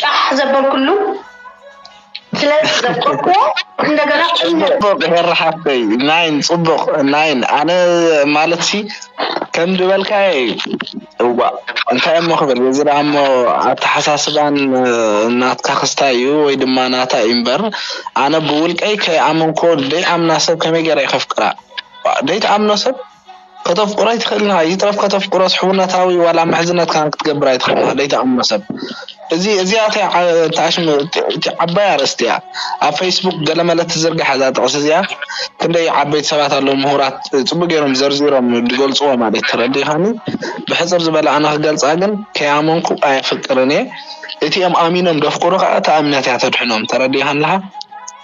ጫሕ ዘበልኩሉ ስለ ዘፍቀርኩዎ እንደገና ፅቡቅ ሄሪ ሓፍተይ ናይን ፅቡቅ ናይን ኣነ ማለት ሲ ከም ዝበልካየ እዩ እዋ እንታይ እሞ ክብል እዚ ደኣ እሞ ኣተሓሳስባን ናትካ ክስታይ እዩ ወይ ድማ ናታ እዩ እምበር ኣነ ብውልቀይ ከይኣመንክዎ ደይኣምና ሰብ ከመይ ገይረ ከፍቅራ ደይትኣምኖ ሰብ ከተፍቅሮ ኣይትኽእልን ኢኻ፣ ይትረፍ ከተፍቅሮስ ሕውነታዊ ዋላ ምሕዝነት ከማን ክትገብር ኣይትኽእልን ኢኻ ደይትኣምኖ ሰብ። እዚ እዚኣ እቲ ዓባይ ኣርእስቲ እያ ኣብ ፈይስቡክ ገለመለ ትዝርጋሕ እዛ ጥቕሲ እዚኣ ክንደይ ዓበይቲ ሰባት ኣለዉ ምሁራት ጽቡቕ ጌሮም ዘርዚሮም ዝገልጽዎ ማለት እዩ ተረዲእኻኒ ብሕጽር ዝበለ ኣነ ክገልጻ ግን ከይኣመንኩ ኣየፍቅርን እየ እቲ እም ኣሚኖም ደፍቅሩ ከኣ እታ እምነት እያ ተድሕኖም ተረዲእኻኒ ኣለኻ።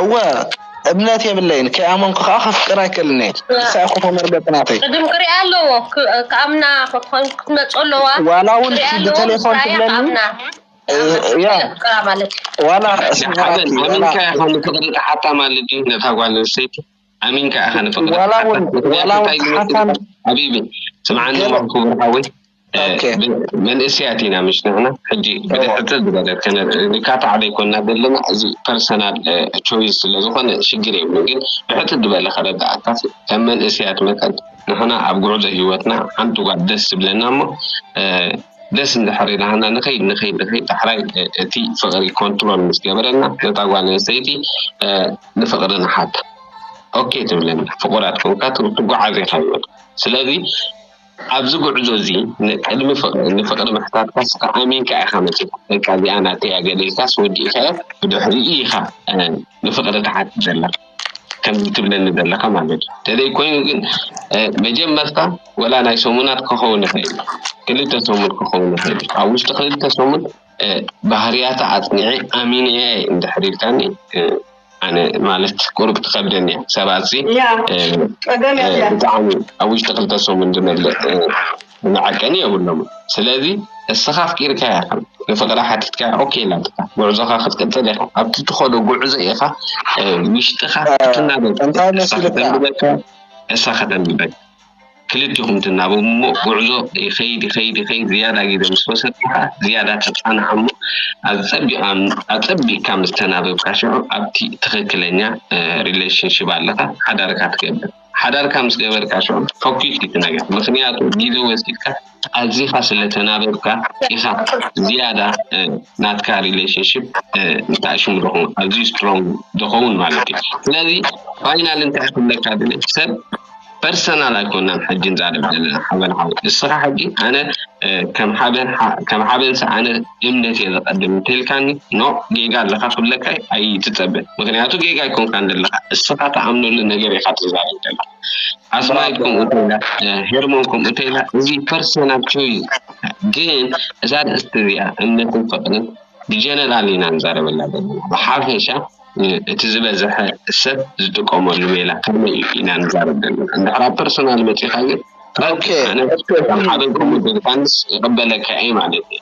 እወ እምነት የብለይን ከይኣመንኩ ከኣ ከፍቅር ኣይክእልን እየ ንሳ ኢኹ ተመርገጺ ናተይ ቅድም ክሪኣ ኣለዎ ክኣምና ክትመጾ ኣለዋ ዋላ እውን ብቴሌፎን ትብለኒ ዋላ ኣሚንካ ኢኻ ንፍቅሪ ተሓታ ማለት ድዩ ነታ ጓል ኣንስተይቲ ኣሚንካ ኢኻ ንፍቅሪ ሓቢቢ ስምዓኒ ክቡር ሓወይ መንእስያት ኢና ምሽ ንሕና ሕጂ ብድሕርትን ዝበለት ከነርኢ ንካታዕ ዘይኮንና ዘለና እዚ ፐርሰናል ቾይስ ስለዝኾነ ሽግር የብሉን ግን ብሕትት ዝበለ ከረዳኣካ ከም መንእስያት መጠን ንሕና ኣብ ጉዕዞ ህይወትና ሓንቲ ጓል ደስ ዝብለና እሞ ደስ እንድሕር ኢላና ንኸይድ ንኸይድ ንኸይድ ዳሕራይ እቲ ፍቕሪ ኮንትሮል ምስ ገበረና ነታ ጓል ኣንስተይቲ ንፍቕሪ ንሓታ ኦኬ ትብለና ፍቑራት ኮንካ ትጓዓዝ ኢኻ ይበል ስለዚ ኣብዚ ጉዕዞ እዚ ቅድሚ ፍቅሪ ንፍቅሪ ምሕታትካስ ከኣ ኣሚንካ ኢካ መጺካ በቃ እዚኣ ናተይ እያ ገሊልካስ ወዲእካዮ ብድሕሪኡ ኢካ ንፍቅሪ ትሓትት ዘለካ ከምዚ ትብለኒ ዘለካ ማለት እዩ ተዘይ ኮይኑ ግን መጀመርታ ወላ ናይ ሰሙናት ክኸውን ይኽእል እዩ ክልተ ሰሙን ክኸውን ይኽእል እዩ ኣብ ውሽጢ ክልተ ሰሙን ባህርያታ ኣጽኒዐ ኣሚነ እየ እንድሕር ኢልካኒ ኣነ ማለት ቁሩብ ትከብደኒ እያ ሰባት ሲ ብጣዕሚ ኣብ ውሽጢ ክልተ ሰሙን ዝመልእ መዐቀኒ የብሎምን ስለዚ እስኻ ኣፍቂርካያ ከም ንፍቅራ ሓቲትካያ ኦኬ ኢላትካ ጉዕዞኻ ክትቅጽል ኢኻ ኣብቲ ትኸዶ ጉዕዞ ኢኻ ውሽጥኻ ክትናበብ እንታይ መሲልካ እሳ ከተንብበካ ክልቲኹም ትናበቡ እሞ ጉዕዞ ይኸይድ ይኸይድ ይኸይድ ዝያዳ ግዜ ምስ ወሰድካ ከኣ ዝያዳ ትጸናዕ እሞ ኣጸቢቓ ኣጸቢቕካ ምስ ተናበብካ ሽዑ ኣብቲ ትኽክለኛ ሪሌሽንሽፕ ኣለኻ ሓዳርካ ትገብር ሓዳርካ ምስ ገበርካ ሽዑ ፈኲስ እዩ እቲ ነገር ምኽንያቱ ግዜ ወሲድካ ኣዚኻ ስለ ተናበብካ ኢኻ ዝያዳ ናትካ ሪሌሽንሺፕ እንታይ ሽሙ ደኹም ኣዝዩ ስትሮንግ ደኸውን ማለት እዩ ስለዚ ፋይናል እንታይ ክብለካ ድለ ሰብ ፐርሰናል ኣይኮናን ሕጂ ንዛረብ ዘለና ሓበን ሓው እስኻ ሕጂ ኣነ ከም ሓበን ከም ሓበን ኣነ እምነት እየ ዘቀድም እንተልካኒ ኖ ጌጋ ኣለካ ክብለካ ኣይትፀበ ምክንያቱ ጌጋ ኣይኮንካን ዘለካ እስኻ ተኣምነሉ ነገር ኢካ ትዛረብ ዘለካ ኣስማይ ከምኡ ተይላ ሄርሞን ከምኡ ተይላ እዚ ፐርሰናቸው እዩ ግን እዛ ኣርእስቲ እዚኣ እምነትን ፍቅርን ብጀነራል ኢና ንዛረበላ ዘለና ብሓፈሻ እቲ ዝበዝሐ ሰብ ዝጥቀመሉ ሜላ ከመይ እዩ ኢና ንዛረብ ዘለና እንድሕር ኣብ ፐርሰናል መፂኻ ግን ኣነ ሓበን ከምኡ ተልካንስ ይቅበለካ እየ ማለት እዩ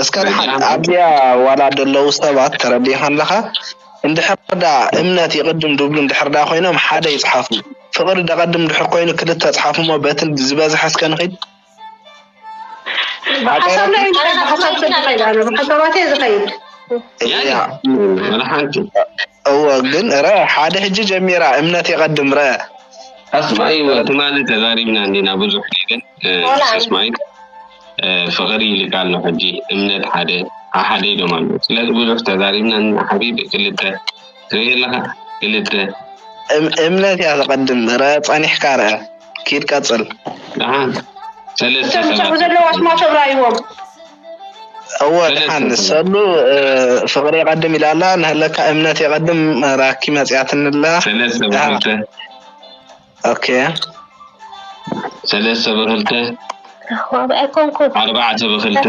እስከ ደሓን ኣብዚኣ ዋላ ደለዉ ሰባት ተረዲእካ ኣለካ እንድሕር ደኣ እምነት ይቅድም ድብሉ እንድሕር ደኣ ኮይኖም ሓደ ይጽሓፉ ፍቅሪ ደቀድም እንድሕር ኮይኑ ክልተ ጽሓፉ እሞ በቲ ዝበዝሐ እስከ ንኪድ ብሓሳብ ናይ ብሓሳብ ሰብ ዝኸይድ ኣነ ብሓሳባት እየ ዝኸይድ እወ ግን ረ ሓደ ሕጂ ጀሚራ እምነት የቀድም ረ ኣስማይወ ትማሊ ተዛሪብና እንዲና ብዙሕ ነገር ምስ ኣስማይት ፍቅሪ ይልካ ኣሎ ሕጂ እምነት ሓደ ሓደ ኢሎም ኣሎ ስለዚ ብዙሕ ተዛሪብና እና ሓቢቢ ክልተ ትርኢ ኣለካ ክልተ እምነት እያ ዘቀድም ረ ጸኒሕካ ረ ኪድ ቀጽል ደሓን ሰለስተ ሰባት ዘለዋ ስማቸው ራይዎም እወ ድሓን ሰሉ ፍቅሪ የቀድም ኢላ ኣላ ንህለካ እምነት የቀድም ራኪ መጽያትኒ ኣላ ሰለስተ ብክልተ ኦኬ ሰለስተ ብክልተ ኣርባዕተ ብክልተ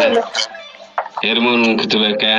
ሄርሞን እውን ክትበልካ እያ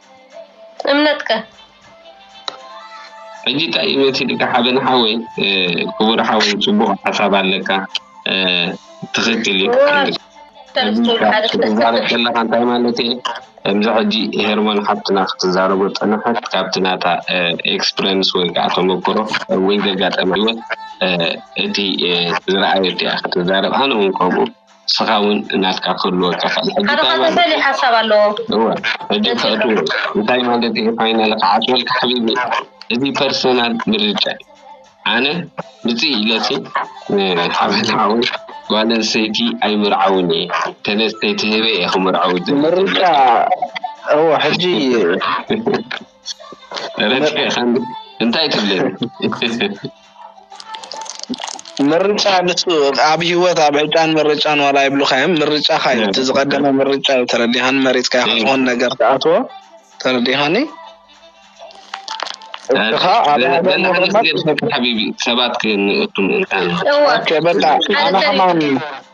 እምነት ከ? ሕጂ እንታይ እዩ መሲልካ ሓበን ሓወይ ክቡር ሓወይ ጽቡቅ ሓሳብ ኣለካ ትክክል እዩ ክትዛረብ ከለካ እንታይ ማለት እየ ከምዚ ሕጂ ሄርሞን ሓፍትና ክትዛረቦ ጸንሐት ካብቲ ናታ ኤክስፕረንስ ወይ ከዓ ተመክሮ ወይ ዘጋጠመ ህይወት እቲ ዝረኣየት እያ ክትዛረብ ኣነ እውን ከምኡ ንስኻ ውን ናትካ ክህልወካ ይኽእል ሕጂ ሓደ እንታይ ካብኡ ማለት ፈሊሕ ሓሳብ ኣለዎ እዩ እወ ሕጂ ነዚ ክእትዎ እንታይ ማለት እዩ ፋይናል ክዓጽወልካ ሓቢቢ እዚ ፐርሰናል ምርጫ እዩ ኣነ ምጽእ ኢለሲ ንሓበን ሓወይ ጓል ኣንስተይቲ ኣይምርዓውን እየ ተነስተይ ተሂበ እየ ክምርዐው ዝብለካ ምርጫ እወ ሕጂ ረቲዐ ከ እንታይ ትብለኒ ምርጫ ንሱ ኣብ ሂወት ኣብ ዕጫን ምርጫን ዋላ ይብሉኻዮም ምርጫኻ እዩ እቲ ዝቀደመ ምርጫ እዩ ተረዲኻን መሪፅካ ኢኻ ዝኾን ነገር ትኣትዎ ተረዲኻኒ እትኻ ኣብ ሓቢቢ ሰባት ክንእቱ ምእንታን በቃ ኣነ ከማን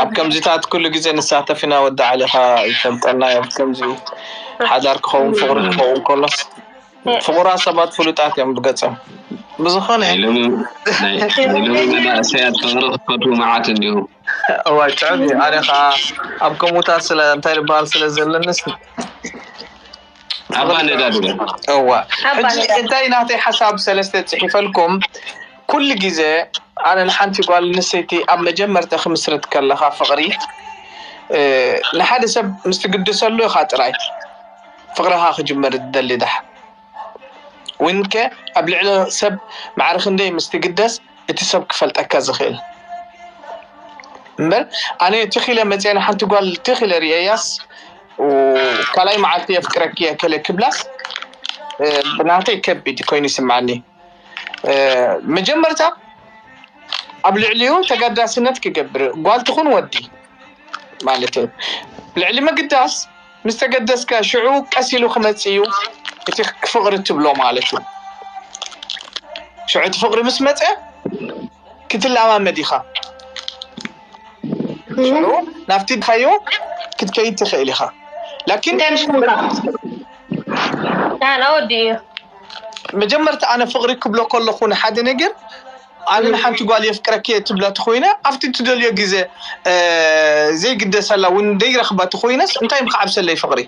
ኣብ ከምዚታት ኩሉ ግዜ ንሳተፍ ኢና ወዲ ዓሊኻ ይፈልጠና ዮም ከምዚ ዩ ሓዳር ክኸውን ፍቕሪ ክኸውን ከሎስ ፍቑራት ሰባት ፍሉጣት ዮም ብገጾም ብዝኾነ ናይ ሎሚ መናእሰያት ፍቕሪ ክፈትዉ መዓት እንዲኹም እዋይ ትዕብ ዩ ኣነ ኸኣ ኣብ ከምኡታት ስለ እንታይ ድበሃል ስለ ዘለኒ ኣባ ነዳዲ እዋ ሕጂ እንታይ ናተይ ሓሳብ ሰለስተ ጺሒፈልኩም ኩሉ ግዜ ኣነ ንሓንቲ ጓል ኣንስተይቲ ኣብ መጀመርታ ክምስርት ከለካ ፍቅሪ ንሓደ ሰብ ምስ ትግድሰሉ ኢካ ጥራይ ፍቅርካ ክጅምር ትደሊ ዳሓር ዊንከ ኣብ ልዕሊ ሰብ ማዕረ ክንደይ ምስ ትግደስ እቲ ሰብ ክፈልጠካ ዝክእል እምበር ኣነ ትክ ኢለ መጽየ ንሓንቲ ጓል ትክ ኢለ ሪኤያስ ካልኣይ መዓልቲ የፍቅረኪ እየ ከለ ክብላስ ብናተይ ከቢድ ኮይኑ ይስምዓኒ መጀመርታ ኣብ ልዕሊኡ ተጋዳስነት ክገብር ጓል ትኹን ወዲ ማለት እዩ ልዕሊ ምግዳስ ምስ ተገደስካ ሽዑ ቀስ ኢሉ ክመፅ እዩ እቲ ክፍቕሪ ትብሎ ማለት እዩ ሽዑ እቲ ፍቕሪ ምስ መፀ ክትለማመድ ኢኻ ሸዑ ናብቲ ድካዮ ክትከይድ ትክእል ኢካ ላኪን እንታይ ምስ ምውጻእ ዳህና ወዲ እዩ መጀመርታ ኣነ ፍቅሪ ክብሎ ከለኩ ንሓደ ነገር ኣነ ንሓንቲ ጓል የፍቅረኪ እየ ትብላ ተኮይነ ኣብቲ ትደልዮ ግዜ እ፣ ዘይግደሰላ እውን ደይረክባ ተኮይነስ እንታይ ምክዓብሰለይ ፍቅሪ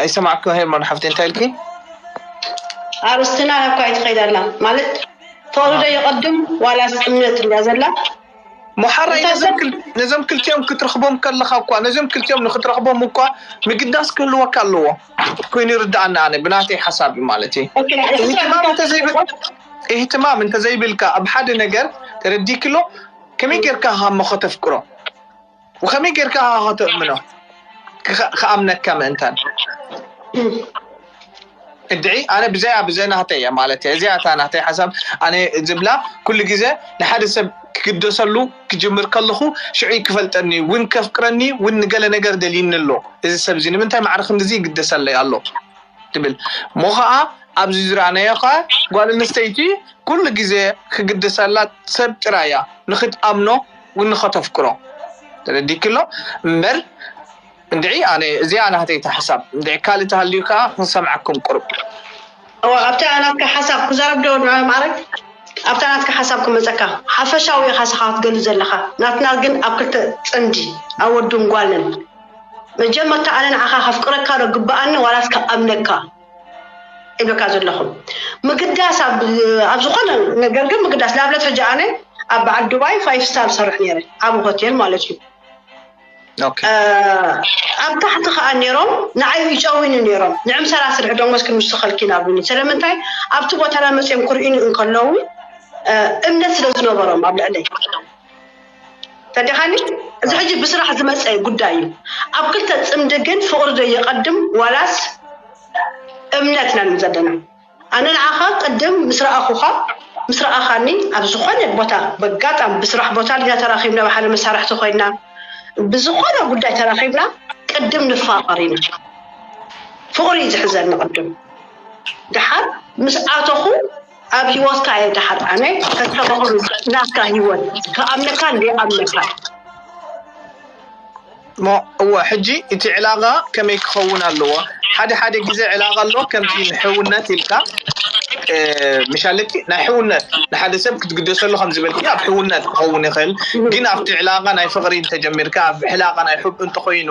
ኣይሰማዕኩ ሄርሞን ሓፍቲ እንታይ ኢልኪ? ኣርስትና እኳ ኣይትኸይድ ኣላ ማለት ተወልደ ይቐድም ዋላስ እምነት እያ ዘላ መሓራይ ነዞም ክልቲኦም ክትረኽቦም ከለኻ እኳ ነዞም ክልቲኦም ንክትረኽቦም እኳ ምግዳስ ክህልወካ ኣለዎ ኮይኑ ይርድኣኒ ኣነ ብናተይ ሓሳብ እዩ ማለት እዩ ኢህትማም እንተዘይብልካ ኣብ ሓደ ነገር ተረዲክሎ ከመይ ጌርካ ኢኻ እሞ ከተፍቅሮ ወከመይ ጌርካ ኢኻ ከተእምኖ ክኣምነካ ምእንታን እድዒ ኣነ ብዘያ ብዘ ናህተይ እያ ማለት እየ እዚኣ እታ ናህተይ ሓሳብ ኣነ ዝብላ ኩሉ ግዜ ንሓደ ሰብ ክግደሰሉ ክጅምር ከለኹ ሽዑ ክፈልጠኒ እውን ከፍቅረኒ እውን ንገለ ነገር ደልዩኒ ኣሎ እዚ ሰብ እዚ ንምንታይ ማዕረ ክንድዚ ይግደሰለይ ኣሎ ትብል እሞ ኸኣ ኣብዚ ዝረኣናዮ ኸኣ ጓል ኣንስተይቲ ኩሉ ግዜ ክግደሰላ ሰብ ጥራይ እያ ንኽትኣምኖ ንኸተፍቅሮ ተረዲክሎ እምበር እንድዒ ኣነ እዚኣ ናተይ እታ ሓሳብ እንድዒ ካልእ ተሃልዩ ከኣ ክንሰምዓኩም ቅሩብ እወ ኣብታ ናትካ ሓሳብ ክዛረብ ዶ ንዑ ማዕረግ ኣብታ ናትካ ሓሳብ ክመጸካ ሓፈሻዊ ኢኻ ስኻ ክትገሉ ዘለኻ ናትና ግን ኣብ ክልተ ጽምዲ ኣብ ወድን ጓልን መጀመርታ ኣነ ንዓኻ ከፍቅረካ ዶ ግብኣኒ ዋላስ ክኣምነካ እብለካ ዘለኹ ምግዳስ ኣብ ኣብ ዝኾነ ነገር ግን ምግዳስ ንኣብነት ሕጂ ኣነ ኣብ በዓል ዱባይ ፋይቭ ስታር ሰርሕ ነይረ ዓብ ሆቴል ማለት እዩ ኣብ ታሕቲ ከዓ ነይሮም ንዓይ ይጨውኒ ነይሮም ንዕምሰላ ስርሒ ደሞዝ ክንውስኸልኪ ናብሉኒ ስለምንታይ ኣብቲ ቦታና መፅኦም ክርእዩኒ እንከለዉ እምነት ስለ ዝነበሮም ኣብ ልዕለይ ተዲኻኒ እዚ ሕጂ ብስራሕ ዝመጸ ጉዳይ እዩ ኣብ ክልተ ጽምዲ ግን ፍቅሪ ዶ ይቀድም ዋላስ እምነት ኢና ንብል ዘለና ኣነ ንዓኻ ቅድም ምስ ረኣኹኻ ምስ ረኣኻኒ ኣብ ዝኾነ ቦታ በጋጣም ብስራሕ ቦታ ዲና ተራኺብና ብሓደ መሳርሕቲ ኮይና ብዝኾነ ጉዳይ ተራኺብና ቅድም ንፋቀር ኢና ፍቅሪ እዩ ዝሕዘኒ ቅድም ደሓር ምስ ኣተኹ ኣብ ሂወትካ እየ ደሓር ኣነ ከስተባህሉ ናትካ ሂወት ክኣምነካን ዘይኣምነካን እሞ እወ ሕጂ እቲ ዕላቃ ከመይ ክኸውን ኣለዎ ሓደ ሓደ ግዜ ዕላቃ ኣሎ ከምቲ ንሕውነት ኢልካ ምሻለኪ ናይ ሕውነት ንሓደ ሰብ ክትግደሰሉ ከም ዝበልኪ ኣብ ሕውነት ክኸውን ይኽእል ግን ኣብቲ ዕላቃ ናይ ፍቅሪ እንተጀሚርካ ኣብ ዕላቃ ናይ ሑብ እንተኾይኑ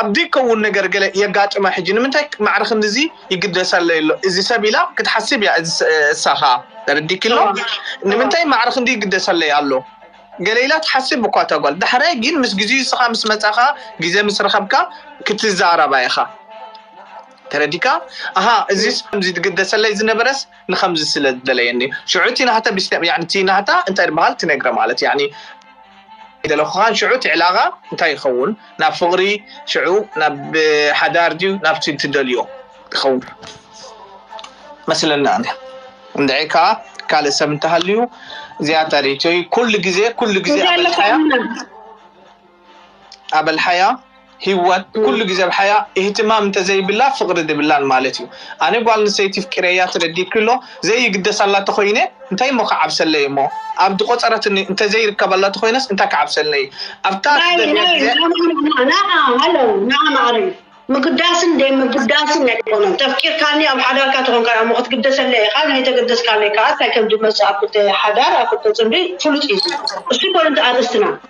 ኣብ ዘይከውን ነገር ገለ የጋጥማ ሕጂ ንምንታይ ማዕረ ክንድዚ ይግደሰለይ ኣሎ እዚ ሰብ ኢላ ክትሓስብ እያ እሳ ከኣ ተረዲኪ ኣሎ ንምንታይ ማዕረ ክንዲ ይግደሰለይ ኣሎ ገለ ኢላ ትሓስብ እኳ እታ ጓል ዳሕራይ ግን ምስ ግዜኡ እስኻ ምስ መጻኻ ግዜ ምስ ረኸብካ ክትዛረባ ኢኻ ተረዲካ ኣሃ እዚስ ከምዚ ትግደሰለይ ዝነበረስ ንከምዚ ስለ ዝደለየኒ ሽዑ እቲ ናህታ ቢስተ ያኒ እቲ ናህታ እንታይ ድበሃል ትነግረ ማለት ያኒ ደለኩካ ሽዑ እቲ ዕላቃ እንታይ ይከውን ናብ ፍቅሪ ሽዑ ናብ ሓዳር ድዩ ናብቲ ትደልዮ ይከውን መስለኒ ኣነ እንድዒ ከኣ ካልእ ሰብ እንተሃልዩ ዝያታ ሪኢቶይ ኩሉ ግዜ ኩሉ ግዜ ኣበልሓያ ኣበልሓያ ሂዋን ኩሉ ግዜ ብ ሓያ ኢህትማም እንተ ዘይብላ ፍቅሪ ድብላን ማለት እዩ ኣነ ጓል ኣንስተይቲ ፍቂረያ ተረዲእኪ ኣሎ ዘይግደሳላ ተኮይነ እንታይ እሞ ክዓብሰለይ እሞ ኣብ ድቆጸረትኒ እንተ ዘይርከበላ ተኮይነስ እንታይ ክዓብሰለይ ኣብታ ትደልያ ግዜ ናዓ ሃሎ ናዓ ማዓረይ ምግዳስን ደይምግዳስን ኣይኮነን ተፍቂርካኒ ኣብ ሓዳርካ ተኮንካ እሞ ክትግደሰለይ ኢካ ንይተገደስካለይ ካኣ ታይ ከምድመጽእ ኣብ ክልተ ሓዳር ኣብ ክልተ ጽምዲ ፍሉጥ እዩ እሱ ኣይኮነን ኣርእስትና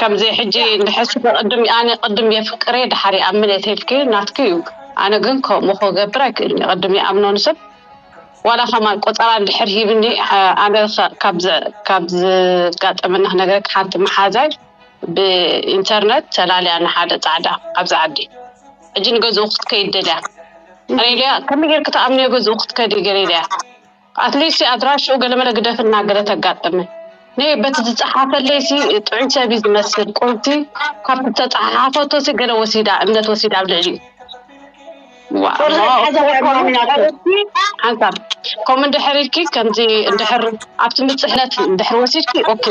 ከምዚ ሕጂ እንድሕር ስፈ ቅድም ኣነ ቅድም የፍቅሬ ድሓር ይኣምን እየ ተልኪ ናትኪ እዩ ኣነ ግን ከምኡ ክገብር ኣይክእልን እየ ቅድም ይኣምኖ ንሰብ ዋላ ከማን ቆፀራ እንድሕር ሂብኒ ኣ- ኣነ ከ- ካብ ዝ- ካብ ዝጋጠመና ክነግረኪ ሓንቲ መሓዛይ ብኢንተርነት ተላልያ ንሓደ ፃዕዳ ኣብዚ ዓዲ ሕጂ ንገዝኡ ክትከይድ ደልያ ኣነ ኢለያ ከመይ ጌርኪ ትኣምንዮ ገዝኡ ክትከዲ ገለ ኢለያ ኣትሊስት ኣድራሽኡ ገለመለ ግደፍልና ገለ ተጋጥም ነይ በቲ ዝጸሓፈለይሲ ጥዑይ ሰብ እዩ ዝመስል ቁርቲ ካብቲ ዝተጸሓሓፈቶሲ ገለ ወሲዳ እምነት ወሲዳ ኣብ ልዕሊኡ ሓንሳብ ከምኡ እንድሕር ኢልኪ ከምዚ እንድሕር ኣብ ትምፅሕነት እንድሕር ወሲድኪ ኦኬ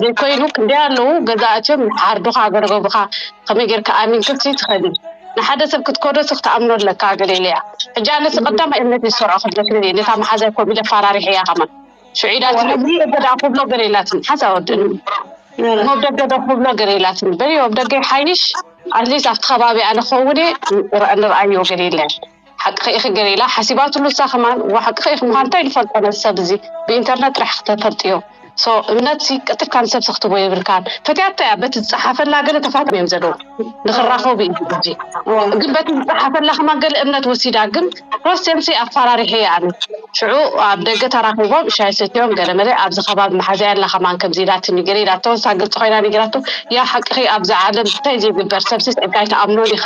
ዘይኮይኑ ክንደይ ኣለዉ ገዛ እትዮም ሓርዱኻ ገረገቡኻ ከመይ ጌርካ ኣሚንክሲ ትኸዲ ንሓደ ሰብ ክትከዶ ስክ ተኣምኖ ኣለካ ገለ ኢለያ ሕጂ ኣነ ስቀዳማይ እምነት እዩ ዝሰርዖ ክትደፍንን እየ ነታ መሓዛይ ኮም ኢለ ኣፋራሪሐያ ከማን ሽዑ ኢላ ትነብሪ ደብደዳ ክብሎ ገለ ኢላትኒ ሓንሳብ ኣብ ደኒ እሞ ኣብ ደገ ዶ ክብሎ ገለ ኢላትኒ በልዮ ኣብ ደገ ይሓይሽ ኣትሊስ ኣብቲ ከባቢኣ ንኸውን እየ ንርኣዮ ገለ ኢለያ ሓቅኺ ኢኺ ግን ኢላ ሓሲባትሉ እሳ ከማን እዋ ሓቅኺ ኢኺ ምዃን እንታይ ንፈልጦ ነዚ ሰብ እዚ ብኢንተርነት ጥራሕ ክተፈልጥዮ ሶ እምነት ሲ ቀጥልካ ንሰብ ሰክትቦ የብልካን ፈትያቶ እያ በቲ ዝፀሓፈላ ገለ ተፋትም እዮም ዘለዉ ንክራኸቡ እዩ እዚ ግን በቲ ዝፀሓፈላ ከማን ገለ እምነት ወሲዳ ግን ፕሮስቴምሲ ኣፈራሪሐ እየ ኣነ ሽዑ ኣብ ደገ ተራኺቦም ሻይ ሰትዮም ገለ መለ ኣብዚ ከባቢ መሓዘያ ኣላ ከማን ከምዚ ኢላትኒ ገለ ኢላቶ እሳ ግልፂ ኮይና ነጊራቶ ያ ሓቅኺ ኣብዚ ዓለም እንታይ ዘይግበር ሰብሲ ፀጋ ኣይተኣምኖን ኢኻ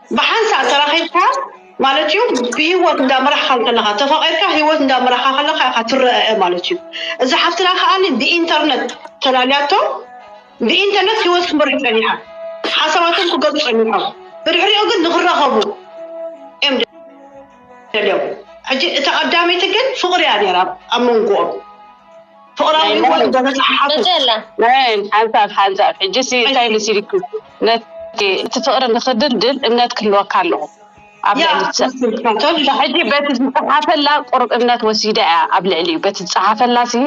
ብሓንሳእ ተራኺብካ ማለት እዩ ብሂወት እንዳ መራሕኻ እንከለኻ ተፋቒርካ ሂወት እንዳ መራኻ ከለኻ ኢኻ ትረኣኣ ማለት እዩ እዛ ሓፍትና ከኣ ብኢንተርነት ተላልያቶ ብኢንተርነት ሂወት ክትመርሕ ጸኒሓ ሓሳባቶም ክገልጹ ጸኒሖም ብድሕሪኡ ግን ንኽራኸቡ እዮም ደልዮም ሕጂ እታ ቀዳመይቲ ግን ፍቕሪ እያ ነይራ ኣብ መንጎኦም ፍቕራዊ ህይወት ደረጃ ሓፍት ሓንሳብ ሓንሳብ ሕጂሲ እንታይ መሲልኪ ነቲ ፍቕሪ ንክድልድል እምነት ክህልወካ ኣለዎ ኣብ ልዕሊ ሰብ ሕጂ በቲ ዝፀሓፈላ ቁርብ እምነት ወሲዳ እያ ኣብ ልዕሊ እዩ በቲ ዝፀሓፈላ ሲ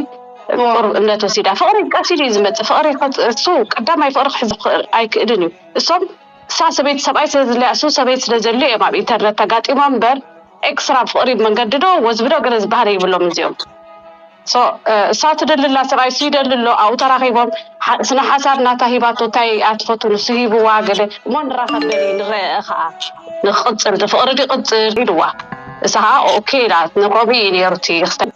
ቁርብ እምነት ወሲዳ ፍቕሪ ቀሲሉ እዩ ዝመፅእ ፍቕሪ እሱ ቀዳማይ ፍቕሪ ክሕዝ ኣይክእልን እዩ እሶም እሳ ሰበይቲ ሰብኣይ ስለዝለያሱ ሰበይቲ ስለዘድልዮ እዮም ኣብ ኢንተርነት ተጋጢሞም እምበር ኤክስትራ ብ ፍቅሪ መንገዲ ዶ ወዝቢ ዶ ገለ ዝበሃል የብሎምን እዚኦም so እሳ ትደሊ ኣላ ሰብኣይ እሱ ይደሊ ኣሎ ኣብኡ ተራኺቦም ስነ ሓሳብ ናታ ሂባቶ እንታይ እያ ትፈቱ ንሱ ሂብዋ ገለ እሞ ንራኸብ በሊ ንረኣ ኸኣ ንክቕፅል እቲ ፍቅሪ ይቕፅል ኢልዋ እሳ ኸኣ ኦኬ ኢላ ንሮቢ እዩ ነይሩ እቲ ክስተ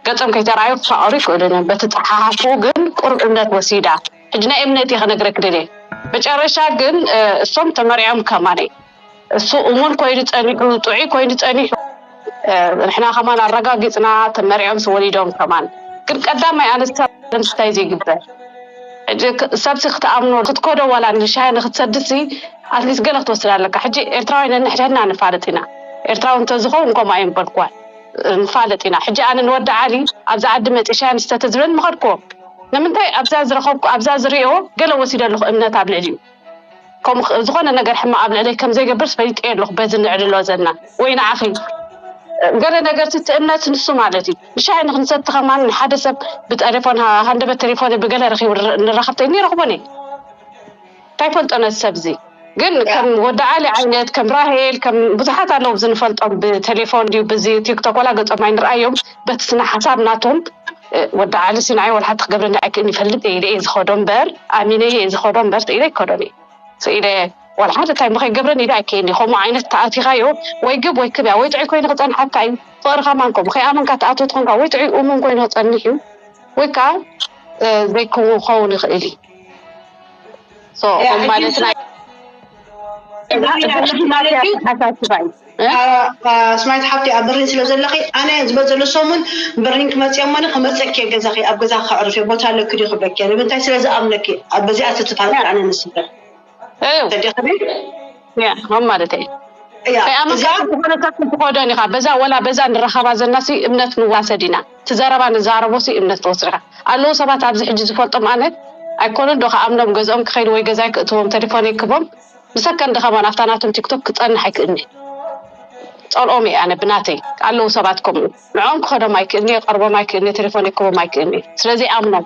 ገፆም ከይተረኣዩ ክፋቐሩ ይኽእሉ እዮም በቲ ፀሓሓፍኡ ግን ቁሩብ እምነት ወሲዳ ሕጂ ናይ እምነት እየ ከነግረኪ ደልየ መጨረሻ ግን እሶም ተመርዕዮም ከማነይ እሱ እሙን ኮይኑ ጸኒሑ ጥዑይ ኮይኑ ጸኒሑ ንሕና ከማን ኣረጋጊጽና ተመርዕዮምስ ወሊዶም ከማን ግን ቀዳማይ ኣነ ንምስታይ ዘይግበር ሕጂ ሰብሲ ክትኣምኖ ክትኮዶ ዋላ ንሻሂ ንክትሰድሲ ኣትሊስ ገለ ክትወስድ ኣለካ ሕጂ ኤርትራውያን ነንሕድሕድና ንፋለጥ ኢና ኤርትራዊ እንተዝኸውን ከምኡ ኣይምበልክዋን ንፋለጥ ኢና ሕጂ ኣነ ንወዲ ዓሊ ኣብዚ ዓዲ መፂ ሻሂ ንስተ ተዝብለኒ ምኸድክዎ ንምንታይ ኣብዛ ዝረኸብኩ ኣብዛ ዝሪኦ ገለ ወሲደ ኣለኹ እምነት ኣብ ልዕሊኡ ከምኡ ዝኾነ ነገር ሕማቕ ኣብ ልዕለይ ከም ዘይገብርስ ፈሊጠዮ ኣለኹ በዚ ንዕልሎ ዘልና ወይ ንዓኺ ገለ ነገርሲ እቲ እምነት ንሱ ማለት እዩ ንሻሂ ንክንሰቲ ከማን ንሓደ ሰብ ብጠሌፎን ሃንደበት ቴሌፎን ብገለ ረኺቡ ንራኸብተይ እኒ ረኽቦን እየ ታይ ፈልጦ ነዚ ሰብዚ ግን ከም ወዲ ዓሊ ዓይነት ከም ራሄል ከም ብዙሓት ኣለዉ ኣብዚ ንፈልጦም ብቴሌፎን ድዩ ብዚ ቲክቶክ ዋላ ገጾም ኣይንርኣዮም በቲ ስነ ሓሳብ ናቶም እ፣ ወዲ ዓሊ ሲናይ ዋላ ሓንቲ ክገብረኒ ኣይክእልን ይፈልጥ እየ ኢለ እየ ዝኸዶ እምበር ኣሚነየ እየ ዝኸዶ እምበር ስኢለ ኣይከዶን እየ ስኢለ ዋላ ሓንቲ ታይ እሞ ከይገብረኒ ኢለ ኣይከይን እየ ከምኡ ዓይነት ተኣቲኻዮ ወይ ግብ ወይ ክብ እያ ወይ ጥዑይ ኮይኑ ክጸንሓካ እዩ ፍቕሪ ከማን ከምኡ ከይኣመንካ ትኣትዎ ትኾንካ ወይ ጥዑይ እሙን ኮይኑ ክጸንሕ እዩ ወይ ከዓ እ፣ ዘይክውን ክኸውን ይኽእል እዩ ኣስማት ሓብቲ ኣብ በርሊን ስለ ዘለኺ ኣነ ዝበል ዘሎ ሰሙን በርሊን ክመጽእ እየ እሞ ክመጸኪ እየ ገዛኺ ኣብ ገዛ ከዕርፍ እየ ቦታ ኣለኪ ድዩ ክብለኪ እየ ንምንታይ ስለ ዝኣምነኪ በዚኣ ትትፋ ኣነ ንስበር ተዲኽኒ ያ ከም ማለተይ እያ ከይ ኣመንካ እዚኣ ግን ዝኾነ ሰብ ክትኾደን ኢኻ በዛ ወላ በዛ ንራኸባ ዘናሲ እምነት ንዋሰድ ኢና እቲ ዘረባ ንዛረቦሲ እምነት ትወስድ ኢኻ ኣለዉ ሰባት ኣብዚ ሕጂ ዝፈልጦም ኣነ ኣይኮነን ዶ ክኣምኖም ገዝኦም ክኸይድ ወይ ገዛይ ክእትዎም ተሌፎነይ ክቦም ንሰከንድ ከማን ኣብታ ናቶም ቲክቶክ ክጸንሕ ኣይክእልኒ ጸልኦም እየ ኣነ ብናተይ ኣለዉ ሰባት ከምኡ ንዕኦም ክኸዶም ኣይክእልኒ የቀርቦም ኣይክእልኒ ተሌፎነይ ክቦም ኣይክእልኒ ስለዘይኣምኖም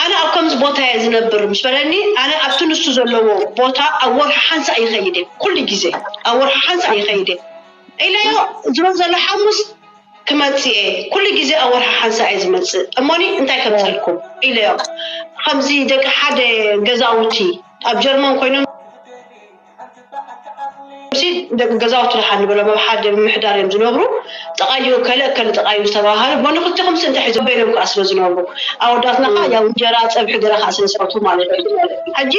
ኣነ ኣብ ከምዚ ቦታ እየ ዝነብር ምስ በለኒ ኣነ ኣብቲ ንሱ ዘለዎ ቦታ ኣብ ወርሒ ሓንሳእ ይኸይድ እየ ኩሉ ግዜ ኣብ ወርሒ ሓንሳእ ይኸይድ እየ ኢለዮ ዝበል ዘሎ ሓሙስ ክመፅእ እየ ኩሉ ግዜ ኣብ ወርሒ ሓንሳእ እየ ዝመፅእ እሞኒ እንታይ ከም ዝልኩም ኢለዮ ከምዚ ደቂ ሓደ ገዛውቲ ኣብ ጀርመን ኮይኖም ሲ ገዛውቲ ድሓን ንበሎም ኣብ ሓደ ምምሕዳር እዮም ዝነብሩ ጠቓዩ እከለ እከለ ጠቓዩ ዝተባሃሉ ቦኒ ክልቲኹም ሲ እንታይ ሒዞም በይኖም ከኣ ስለ ዝነብሩ ኣወዳትና ከኣ ያው እንጀራ ጸብሒ ገለ ከኣ ስለ ዝፈቱ ማለት እዩ ሕጂ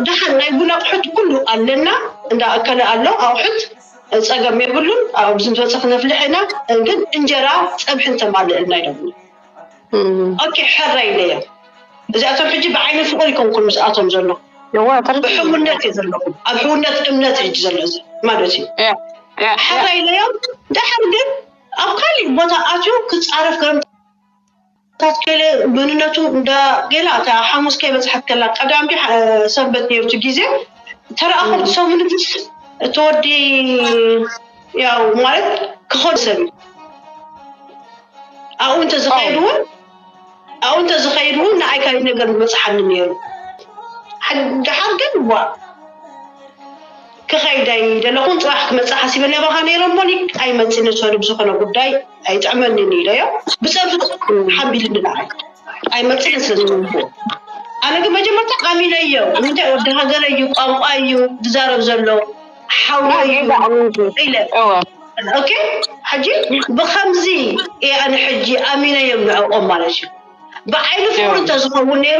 ድሓን ናይ ቡን ኣቕሑት ኩሉ ኣለና እንዳ እከለ ኣሎ ኣቕሑት ጸገም የብሉን ኣብዚ ዝበጽሕ ነፍልሕ ኢና ግን እንጀራ ጸብሒ እንተማልእልና ይደብሉ ኦኬ ሕራይ ኢለዮም እዚኣቶም ሕጂ ብዓይኒ ፍቕሪ ይኮንኩን ምስኣቶም ዘሎ ብሕውነት እዩ ዘለኹ ኣብ ሕውነት እምነት ሕጂ ዘሎ እዚ ማለት እዩ ሕራይ ኢለዮም ድሓር ግን ኣብ ካሊእ ቦታ ኣትዩ ክፃረፍ ገርምታት ከለ መንነቱ እንዳ ገላ እታ ሓሙስ ከይበፅሐት ከላ ቀዳም ዲ ሰንበት ነርቱ ግዜ ተረኣኹም ሰሙንትስ እተወዲ ያው ማለት ክኾን ሰብ እዩ ኣብኡ እንተዝኸይድ እውን ኣብኡ እንተዝኸይድ እውን ንኣይ ካልእ ነገር ዝበፅሓኒ ነይሩ ድሓር ግን ዋ ክኸይድ ኣይደለኹን ፅባሕ ክመፅእ ሓሲበ ናባኻ ነይረ እሞኒ ኣይመፅእ ንሰሉ ብዝኾነ ጉዳይ ኣይጥዕመኒን ኢለዮ ብፀርፊ ሓምቢልኒ ንዓይ ኣይመፅእን ስለ ዝፅቡዎ ኣነ ግን መጀመርታ ኣሚነዮ ንምንታይ ወዲ ሃገረ እዩ ቋንቋ እዩ ዝዛረብ ዘሎ ሓወይ ሕጂ ብከምዚ እየ ኣነ ሕጂ ኣሚነዮም ንዕኦም ማለት እዩ ብዓይኒ ፍቅሪ እንተዝኸውን ነይሩ